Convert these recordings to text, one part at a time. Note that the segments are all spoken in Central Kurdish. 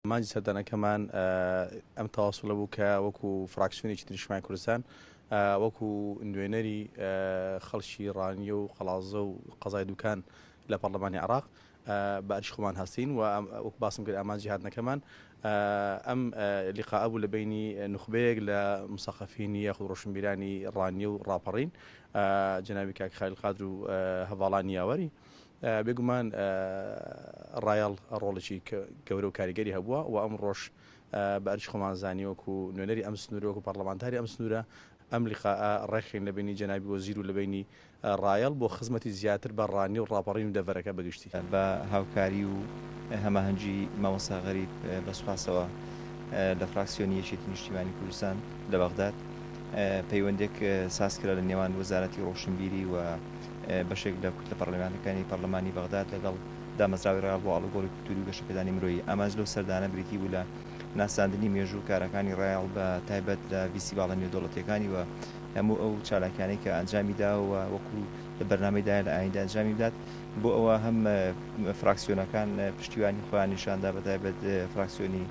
ئامانجی سەردانەکەمان ئەم تەواسوڵە بوو کە وەکو فراکسیۆنێکی نیشتمانی کوردستان وەکو نوێنەری خەڵکی ڕانیە و قەڵازە و قەزای دوکان لە پەرلەمانی عراق بە ئەرش خۆمان هەستین و وەک باسم کرد ئامانجی هاتنەکەمان ئەم لقاء بوو لە بینی نخبەیەک لە مسەقەفینی یاخود ڕۆشنبیرانی ڕانیە و ڕاپەڕین جناوی کاک خالیل قادر و هەڤاڵانی یاوەری بێگومان ڕایەڵ ڕۆڵێکی گەورە و کاریگەری هەبووە و ئەمڕۆش بە ئەرکی خۆمان زانی وەکو نوێنەری ئەم سنوورە وەکو پەرلەمانتاری ئەم سنوورە ئەم لقاء ڕێکخین لە بینی جەنابی وەزیر و لە بینی ڕایەڵ بۆ خزمەتی زیاتر بە ڕانی و ڕاپەڕین و دەڤەرەکە بە گشتی. بە هاوکاری و هەماهەنگی مامۆستا غەریب بە سوپاسەوە لە فراکسیۆنی یەکێتی نیشتیمانی کوردستان لە بەغداد پەیوەندێک سازکرا لە نێوان وەزارەتی ڕۆشنبیری و بەشێک لە کوتلە پەڕلەمانیەکانی پەڕلەمانی بەغداد لەگەڵ دامەزراوەی ڕیاڵ بۆ ئاڵوگۆڕی کولتووری و گەشەپێدانی مرۆیی، ئامانج لەو سەردانە بریتی بوو لە ناساندنی مێژوو و کارەکانی ڕیاڵ بە تایبەت لە ڤیستیڤاڵە نێودەوڵەتییەکانی و هەموو ئەو چالاکیانەی کە ئەنجامی داوە و وەکو لە بەرنامەی دایە لە ئایندە ئەنجامی بدات بۆ ئەوە هەم فراکسیۆنەکان پشتیوانی خۆیان نیشاندا بە تایبەت فراکسیۆنی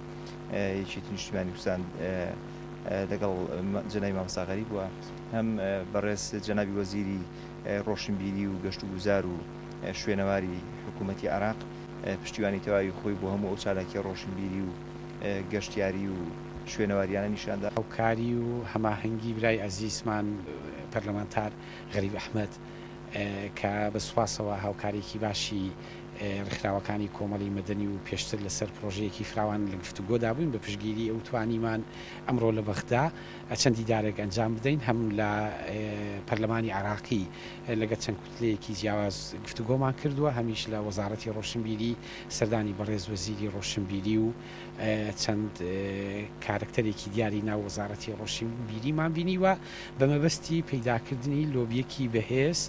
یەکێتی نیشتیمانی کوردستان لەگەڵ جەنابی مامۆستا غەریب و هەم بەڕێز جەنابی وەزیری ڕۆشنبیری و گەشتوگوزار و شوێنەواری حکوومەتی عێراق پشتیوانی تەواوی خۆی بۆ هەموو ئەو چالاکییە ڕۆشنبیری و گەشتیاری و شوێنەوارییانە نیشان دا. هاوکاری و هەماهەنگی برای ئەزیزمان پەرلەمانتار غەریب ئەحمەد کە بە سوپاسەوە هاوکاریی باشی ڕێکخراوەکانی کۆمەڵی مەدەنی و پێشتر لەسەر پڕۆژەیەکی فراوان لە گفتوگۆدا بووین بە پشتگیری ئەو توانیمان ئەمڕۆ لە بەغدا چەند دیدارێک ئەنجام بدەین، هەم لە پەرلەمانی عێراقی لەگەڵ چەند کوتلەیەکی جیاواز گفتوگۆمان کردووە، هەمیش لە وەزاڕەتی ڕۆشنبیری سەردانی بەڕێز وەزیری ڕۆشنبیری و چەند کارەکتەرێکی دیاری ناو وەزاڕەتی ڕۆشنبیریمان بینیوە بە مەبەستی پەیداکردنی لۆبیەکی بەهێز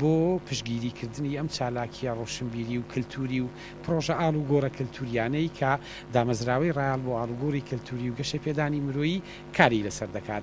بۆ پشتگیریکردنی ئەم چالاکیە ڕۆشنبیری و کەلتوری و پڕۆژە ئاڵوگۆڕە کەلتورییانەی کە دامەزراوەی ڕایەڵ بۆ ئاڵوگۆڕی کەلتوری و گەشەپێدانی مرۆیی کاری لەسەر دەکات.